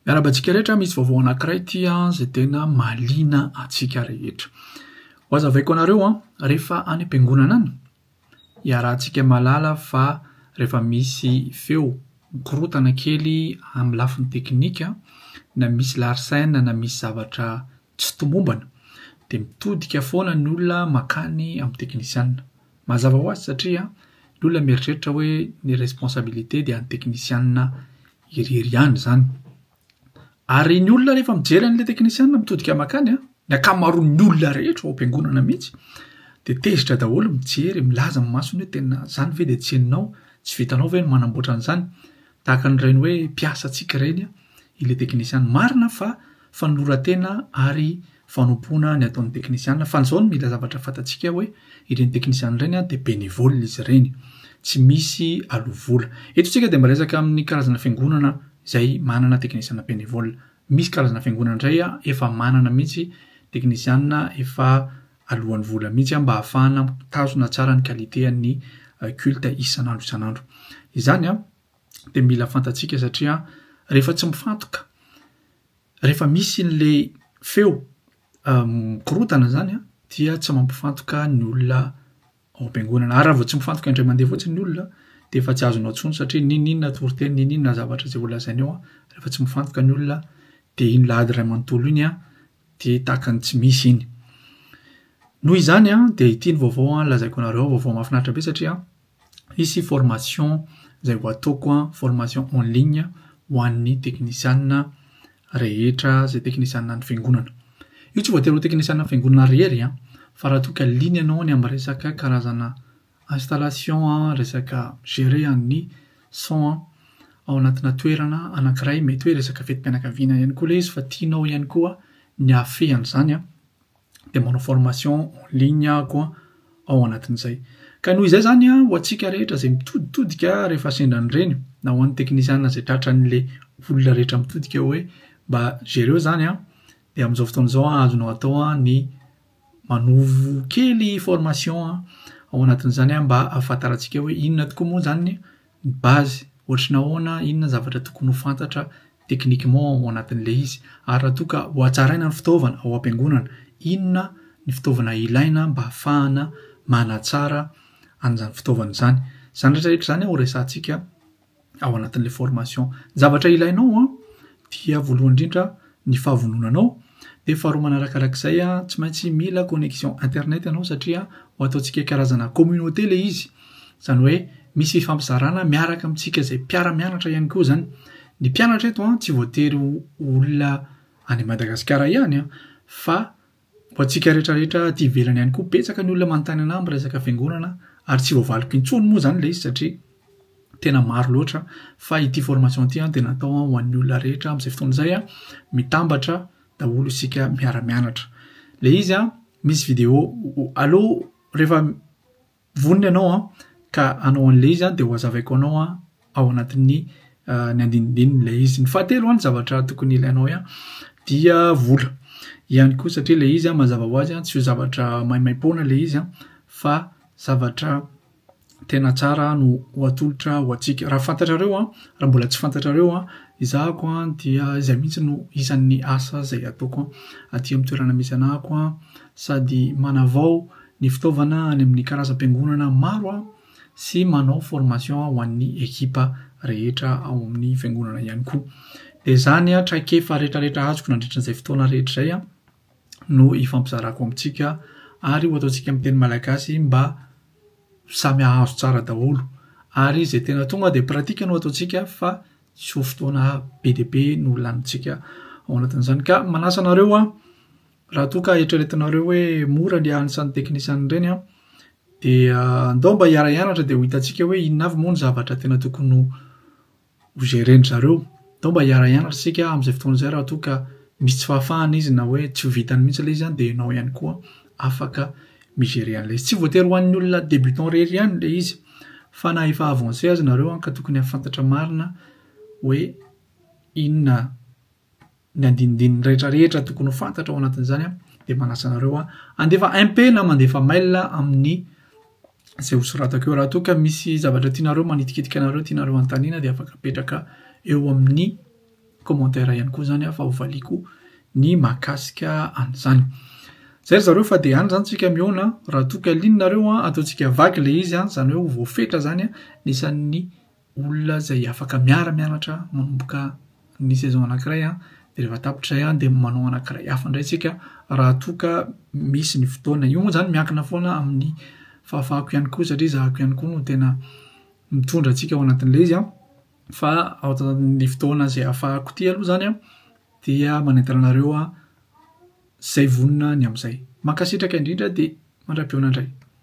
Miarahaba antsika rehetra, misy vaovao anankiray ity izay tena mahaliana antsika rehetra. Ho azavaiko anareo an, rehefa any am-piangonana any, iarahantsika malala fa rehefa misy feo mikorotana kely amin'ny lafiny teknika, na misy larsen na misy zavatra tsy tomombana dia mitodika foana ny olona makany amin'ny teknisianina. Mazava ho azy satria ny olona mieritreritra hoe ny responsabilité dia an'ny teknisianina irery ihany izany. Ary ny olona rehefa mijery an'ilay teknisianina mitodika makany, ny ankamaroan'ny olona rehetra ao am-piangonana mihitsy dia tezitra daholo mijery, milaza amin'ny masony hoe tena izany ve dia tsy henonao, tsy vitanao ve ny manamboatra an'izany? Tahaka ny ireny hoe mpiasa antsika ireny ilay teknisianina. Marina fa fanoloran-tena ary fanompoana ny ataon'ny teknisiana fa izao no mila zavatra fantatsika hoe ireny teknisiana ireny dia bénévole izy ireny, tsy misy aloa vola. Eto isika dia mba resaka amin'ny karazana fiangonana izay manana teknisiana bénévole. Misy karazana fiangonana indray efa manana mihitsy teknisiana efa aloan'ny vola mihitsy mba hahafahana mitazona tsara ny qualité an'ny culte isan'andro isan'andro. Izany an! dia mila fantatsika satria rehefa tsy mifantoka, rehefa misy an'ilay feo mikorotana izany an, dia tsy mampifantoka ny olona ao am-piangonana. Ary raha vao tsy mifantoka indray mandeha fotsiny ny olona dia efa tsy azonao intsony satria n'inon'inona toriteny, n'inon'inona zavatra izay holazainy eo, rehefa tsy mifantoka ny olona dia iny lahady iray manontolo iny an, dia tahaka ny tsy misy iny. Noho izany an, dia ity ny vaovao lazaiko anareo, vaovao mahafinaritra be satria hisy formation izay ho ataoko an, formation en ligne ho an'ny teknisianina rehetra izay teknisianina any fiangonana. Io tsy voatery ho teknisianina fiangonana irery an, fa raha toa ka liana ianao any amin'ny resaka karazana installation an, resaka mi-gerer an'ny son an, ao anatina toerana anankiray, mety hoe resaka fetim-pianakaviana ihany koa ilay izy fa tianao ihany koa ny hahafehy an'izany an, dia manao formation en ligne aho ao anatin'izay. Ka noho izay izany ho antsika rehetra izay mitoditodika rehefa sendra an'ireny, na ho an'ny teknisiana izay tratran'ilay olona rehetra mitodika hoe mba jereo izany an, dia amin'izao fotoana izao azonao atao ny manovo kely formation ao anatin'izany mba ahafantarantsika hoe inona tokoa moa izany Ny base, ohatry ny ahoana, inona ny zavatra tokony ho fantatra techniquement ao anatin'ilay izy, ary raha toa ka hohatsaraina ny fitaovana ao am-piangonana, inona ny fitaovana ilaina mba hahafahana manatsara an'izany fitaovana izany. Izany rehetra rehetra izany horesahantsika ao anatin'ilay formation. Ny zavatra ilainao dia voalohany indrindra ny fahavononanao dia faharoa manarakarak'izay tsy maintsy mila connexion internet ianao satria ho ataontsika hoe karazana communauté ilay izy izany hoe misy fifampizarana miaraka amintsika izay mpiara-mianatra ihany koa izany ny mpianatra eto an tsy voatery ho olona any Madagasikara ihany an fa Ho antsika rehetra rehetra aty ivelany ihany koa betsaka ny olona manontany anah miresaka fiangonana ary tsy voavaliko intsony moa zany le izy satria tena maro loatra fa ity formation ity an dia natao an ho an'ny olona rehetra amin'izay fotoana izay an mitambatra daholo isika miara-mianatra le izy an misy video aloha rehefa Vonona ianao an, ka hanao an'ilay izy an, dia hohazavaiko anao an, ao anatin'ny ny andinindininy ilay izy. Ny fahatelo an, ny zavatra tokony ilainao an, dia vola ihany koa, satria ilay izy an, mazava ho azy an, tsy ho zavatra maimaim-poana ilay izy an, fa zavatra tena tsara no ho atolotra ho antsika. Raha fantatrareo an, raha mbola tsy fantatrareo an, ezahako an, dia izay mihitsy no isan'ny asa izay ataoko an, aty amin'ny toerana misy anahako an, sady manavao ny fitaovana any amin'ny karazam-piangonana maro sy manao formation ho an'ny ekipa rehetra ao amin'ny fiangonana ihany koa. Dia izany traikefa rehetrarehetra azoko nandritra izay fotoana rehetra izay no ifampizarako amintsika ary ho ataontsika amin'ny teny malagasy mba samy hahazo tsara daholo. Ary izay tena tonga dia pratique no ataontsika fa tsy ho fotoana be dia be no lanintsika ao anatin'izany. Ka manasa anareo Raha toa ka eritreretinareo hoe mora ny hiaran'ny sain'ny teknisianina ireny an, dia andao mba hiara-hianatra dia ho hitantsika hoe inona avy moa ny zavatra tena tokony ho ho gérer-ndry zareo. Andao mba hiara-hianatra isika amin'izay fotoana izay raha toa ka misy tsy fahafahana izy na hoe tsy ho vitany mihitsy ilay izy an, dia ianao ihany koa afaka mi-gérer an'ilay izy. Tsy voatery ho an'ny olona débutant irery ihany ilay izy fa na efa avancé aza nareo an ka tokony hahafantatra marina hoe inona ny andinindininy rehetra rehetra tokony ho fantatra ao anatin'izany a de manasa anareo a andefa MP na mandefa mail amin'ny zay ho soratako eo raha toa ka misy zavatra tianareo manitikitika anareo tianareo antanina de afaka apetraka eo amin'ny commentaire ihany koa zany a fa ho valiko ny mahakasika an'izany zay ry zareo fa de any zany tsika mihaona raha toa ka lininareo a ataontsika vaky le izy a zany hoe ho voafetra zany a nisan'ny olona izay afaka miara-mianatra manomboka ny saison anankiray an, dia rehefa tapitra izay an dia manao anankiray hafa indray isika raha toa ka misy ny fotoana. Io moa izany miankina foana amin'ny fahafahako ihany koa satria zahako ihany koa no tena mitondra antsika ao anatin'ilay izy an, fa ao anatin'ny fotoana izay ahafahako ity aloha izany an dia manentana anareo an izay vonona ny amin'izay. Mankasitraka indrindra dia mandra-pihaona indray.